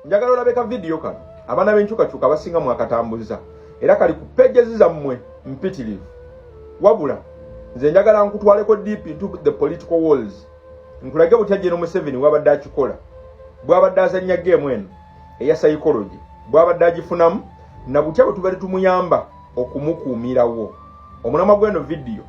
njagala olabe ka vidiyo kano abaana b'enkyukakyuka abasinga mwakatambuza era kali ku pejezi zammwe mpitirivu wabula nze njagala nkutwaleko deep into the political walls nkulage butya jeno museveni wabadde akikola bwabadde azannya geemu eno eya psychology bwabadde agifunamu na butya bwe tubadde tumuyamba okumukuumirawo omulamwa gw'eno vidiyo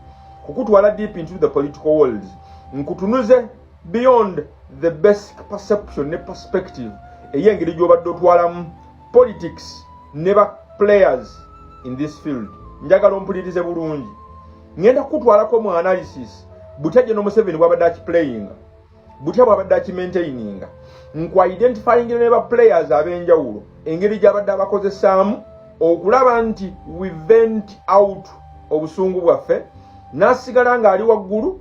kukutwala deep into the political walls nkutunuze beyond the basic perception ne perspective ey'engeri gy'obadde otwalamu politics ne ba players in this field njagala ompulirize bulungi ngenda kukutwalako mu analysis butya gye nomuseveni bwabadde akiplayinga butya bwabadde akimaintaininga nku identifying ne ba players ab'enjawulo engeri gyabadde abakozesaamu okulaba nti we vent out obusungu bwaffe n'asigala ng'ali waggulu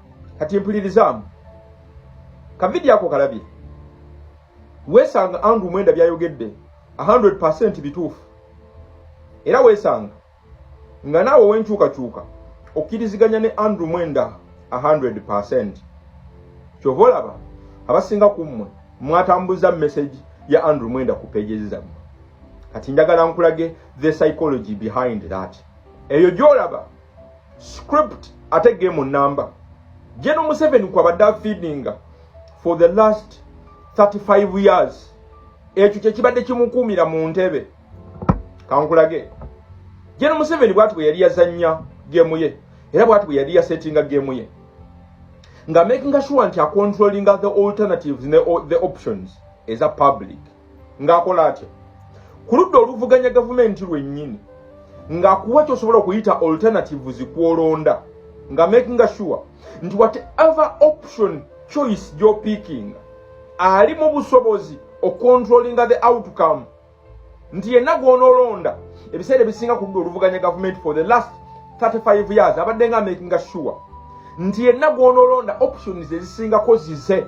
kati mpulirizaamu kavidiyo ako kalabye weesanga andrew mwenda byayogedde 100 percent bituufu era weesanga nga naawe owenkyukakyuka okkiriziganya ne andrew mwenda 100 percent kyova olaba abasinga ku mmwe mwatambuza message ya andrew mwenda ku pages zammwe kati njagala nkulage the psychology behind that eyo gyolaba script ate game number General Museveni kwabadde feedinga for the last 35 years ekyo kyekibadde kimukuumira mu ntebe kankulage General Museveni bwati bwe yali yazannya gemu ye era bwati bwe yali yasetinga gemu ye nga making sure nti acontrollinga the alternatives ne the options eza public ng'akola atya ku ludda oluvuganya gavumenti lwennyini ng'akuwa kyosobola okuyita alternatives kwolonda nga makinga sure nti whatever option choice gyopikinga ali mu busobozi ocontrollinga the outcome nti yenna gwonoolonda ebiseera ebisinga ku ludda oluvuganya gavumenti for the last 35 years abadde nga makinga sure nti yenna gwonoolonda options ezisingako zize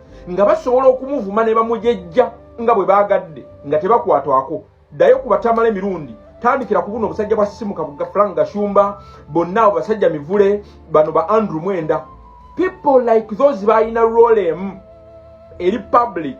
nga basobola okumuvuma ne bamujejja nga bwe baagadde nga tebakwatwako ddayo ku batamala emirundi tandikira ku buno obusajja bwa simuka buga frank gashumba bonna abo basajja mivule bano ba andrew mwenda people like those balina role emu eri public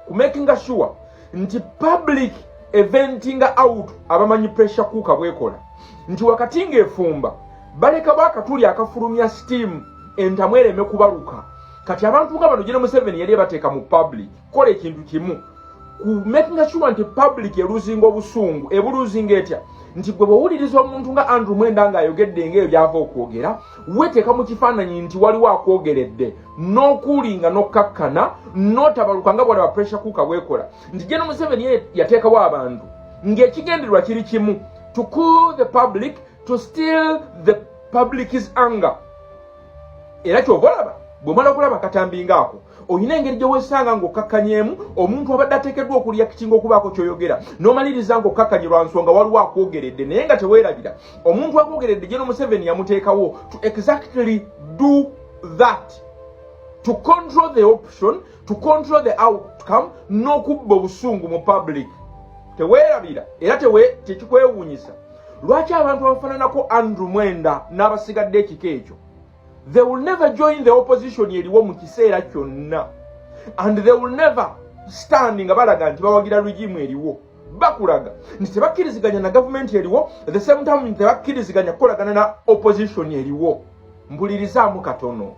ku makinga sure nti public eventinga out abamanyi pressure kuuka bwekola nti wakati ng'efumba balekawo akatuli akafulumya steam entamwereme kubaluka kati abantu nga bano jene museveni yali ebateeka mu public kola ekintu kimu ku making sure nti public eluzinga obusungu ebuluzinga etya nti gwe bwowuliriza omuntu nga andrew mwenda nga ayogedde nga ebyo byava okwogera weteeka mu kifaananyi nti waliwo akwogeredde n'okuulinga n'okkakkana n'otabaluka nga bwalaba pressure kuuka bwekola nti jeno museveni yateekawo abantu ng'ekigendererwa kiri kimu to cool the public to still the public's anger era kyova olaba bwemala okulaba akatambi ngaako olina engeri gyewesanga ngaokkakkanyeemu omuntu abadde ateekeddwa okuliyakitinga okubaako kyoyogera nomaliriza ngaokkakkanye lwa nsonga waliwo akwogeredde naye nga teweerabira omuntu akwogeredde gye nomuseveni yamuteekawo to exactly do that to control the option to control the outcome n'okubba obusungu mu public teweerabira era tewe tekikwewuunyisa lwaki abantu abafananako andrew mwenda n'abasigadde ekika ekyo they will never join the opposition eriwo mu kiseera kyonna and they will never stand nga balaga nti bawagira regimu eriwo bakulaga nti tebakkiriziganya na gavumenti eriwo the same time nti tebakkiriziganya kukolagana na opposition eriwo mpulirizaamu katono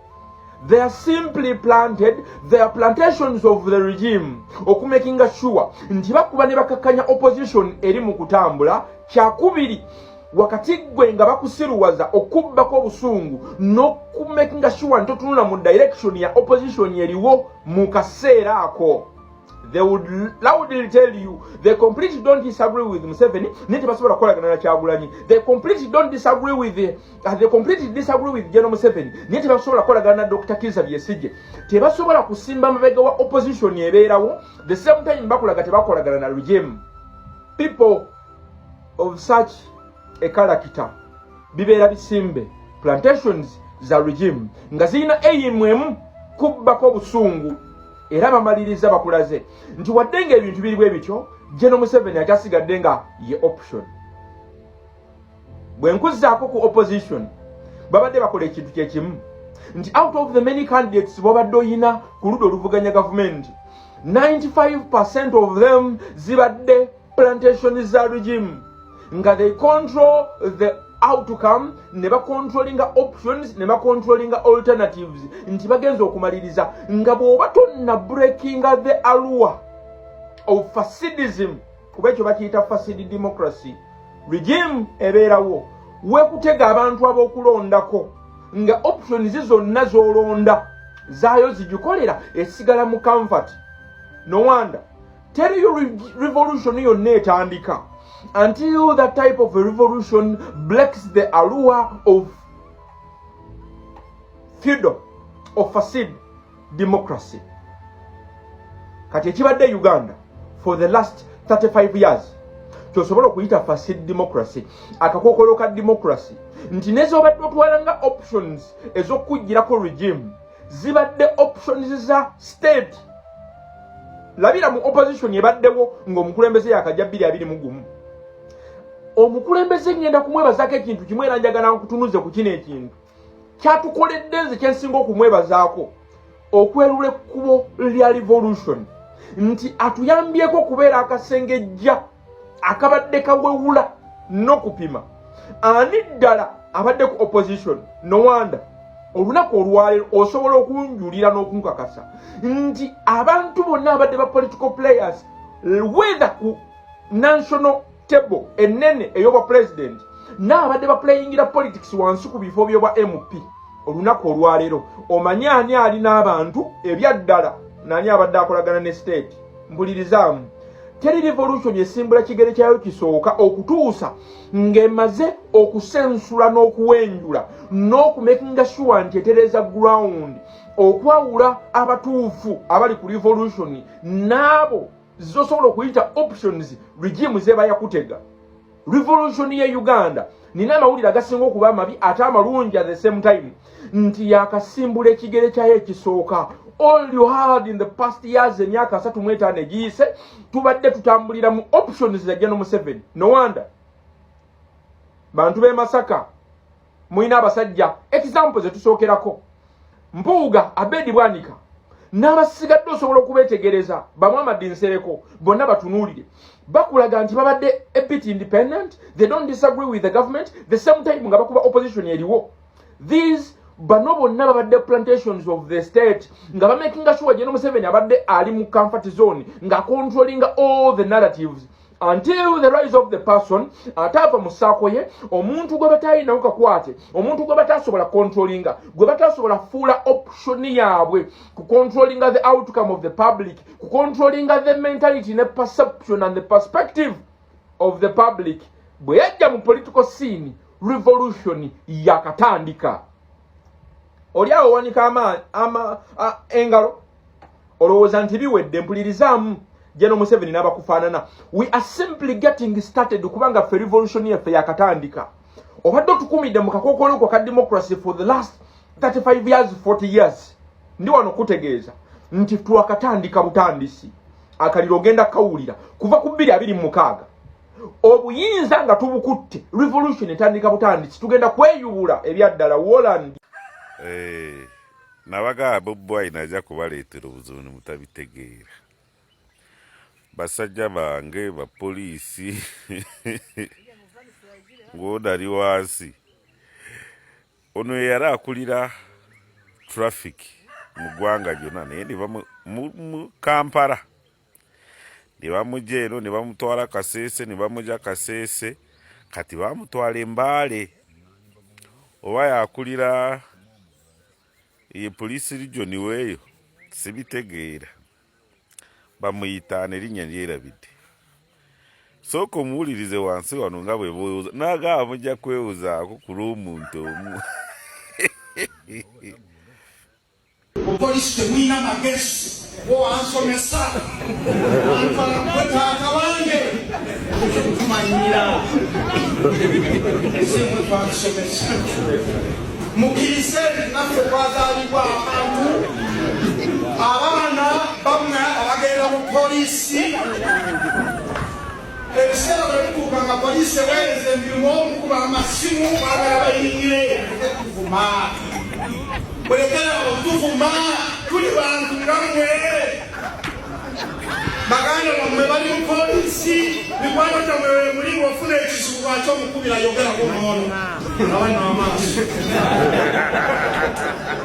they are simply planted they are plantations of the regime okumakinga sure nti bakuba ne bakakkanya opposition eri mu kutambula kyakubiri wakati gwe nga bakusiruwaza okubbako obusungu n'okumakinga sure nti otunula mu direction ya opposition eriwo mu kaseera ako they would loudly tell you they completely don't disagree with museveni naye tebasobola kukolagana na kyagulanyi they completely don't disagree with as they completely disagree with General Museveni naye tebasobola kukolagana na Dr. Kiza Besigye tebasobola kusimba mabega wa opposition ebeerawo the same time bakulaga tebakolagana na regime people of such a character bibeera bisimbe plantations za regime nga zirina eyimu emu kubbako obusungu era bamaliriza bakulaze nti wadde nga ebintu biri bwe bityo General Museveni akyasigadde nga ye option bwe nkuzzaako ku opposition babadde bakola ekintu kye kimu nti out of the many candidates bobadde oyina ku ludda oluvuganya gavumenti 95 percent of them zibadde plantation za regime nga they control the outcome ne bacontrollinga options ne bacontrollinga alternatives nti bagenza okumaliriza nga bw'oba tonna breakinga the alua of fasidism kuba ekyo bakiyita fasidi democracy regime ebeerawo wekutega abantu ab'okulondako nga options zonna z'olonda zaayo zigikolera esigala mu comfort no wonder teriyo revolution yonna etandika until that type of revolution blacks the allure of feudal of facide democracy kati ekibadde e uganda for the last 35 years kyosobola okuyita fasi democracy akakokolo ka democracy nti nezobadde otwala nga options ezokukugirako regime zibadde options za state labira mu opposition ebaddewo ngaomukulembeze yakajja 221 omukulembeze ngenda kumwebazako ekintu kimu era njagala nkutunuze ku kino ekintu kyatukoledde nze kyensinga okumwebazaako okwerula ekkubo lya revolution nti atuyambyeko okubeera akasengejja akabadde kawewula n'okupima ani ddala abadde ku opposition nowanda olunaku olwaleero osobola okunjulira n'okunkakasa nti abantu bonna abadde ba political players wether ku national table enene eyobwa president naabadde baplayingira politics wansi ku bifo byobwa mp olunaku olwaleero omanyi ani ali n'abantu ebyaddala nani abadde akolagana ne state mbulirizaamu teri revolution esimbula kigere kyayo kisooka okutuusa ng'emaze okusensula n'okuwenjula n'okumekinga shuwa nti etereza ground okwawula abatuufu abali ku revolution n'abo zosobola okuyita options regime zeba yakutega revolution ye uganda nina amawulire agasinga okuba amabi ate amalungi at the same time nti yakasimbula ekigere kyayo ekisooka all you had in the past years emyaka asatu mu etaano egiyise tubadde tutambulira mu options za geno museveni no wonder bantu b'e masaka mulina abasajja example zetusookerako mpuuga abedi bwanika n'abasigadde osobola okubeetegereza bamwamadi nsereko bonna batunuulire bakulaga nti babadde a bit independent they don't disagree with the government the same time nga bakuba opposition eriwo these bano bonna babadde plantations of the state nga bamakinga sure jeno museveni abadde ali mu comfort zone nga controlling all the narratives until the rise of the person ataava mu saako ye omuntu gwe batayinawo kakwate omuntu gwe batasobola controllinga gwe batasobola fuula option yaabwe ku controllinga the outcome of the public ku controllinga the mentality ne perception and the perspective of the public bwe yajja mu political scene revolution yakatandika oli awo wanika amaanyi engalo olowooza nti biwedde mpulirizaamu jeno museveni n'abakufaanana we are simply getting started kubanga ffe revolution yaffe yakatandika obadde otukumidde mu kakookolo kwa ka democracy for the last 35 years 40 years ndi wano kutegeeza nti twakatandika butandisi akaliro ogenda kawulira kuva ku bbiri abiri mu mukaaga obuyinza nga tubukutte revolution etandika butandisi tugenda kweyubula ebyaddala woland hey. Eh. nabagaa bobi wine ajja kubaleetera obuzibu ne mutabitegeera basajja bange bapoliisi ng'onali wansi ono yeyali akulira traffic mu ggwanga lyonna naye ne bamu mu kampala ne bamugya eno ne bamutwala kaseese ne bamugya kaseese kati bamutwala embaale oba yakulira ye poliisi rijoni weeyo sibitegeera bamuyita nerinnya lyerabidde sooka omuwulirize wansi wano nga bwe bwewuza nagaba mujja kwewuzaako ku lw'omuntu omu Mupolisi temulina magezi bo ansomesa antwalakwe taata wange tumanyira esemwe twatusomesa mukirize naffe twazalibwa abantu abaana bamwe abagenda mu polisi Ebiseera bwe bituuka nga poliisi eweereza emirimu okukuba amasimu baagala bayingire muleke tuvuma mulekera okutuvuma tuli bantu nga mmwe baganda bammwe bali mu poliisi mikwano gyammwe we muli ofuna ekizibu lwaki omukubira yogera ku noono abana amaaso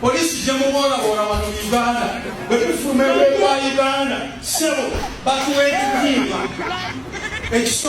Poliisi gye muboolaboola wano mu Uganda bwe tufuluma ebweru wa Uganda ssebo batuwa ekitimba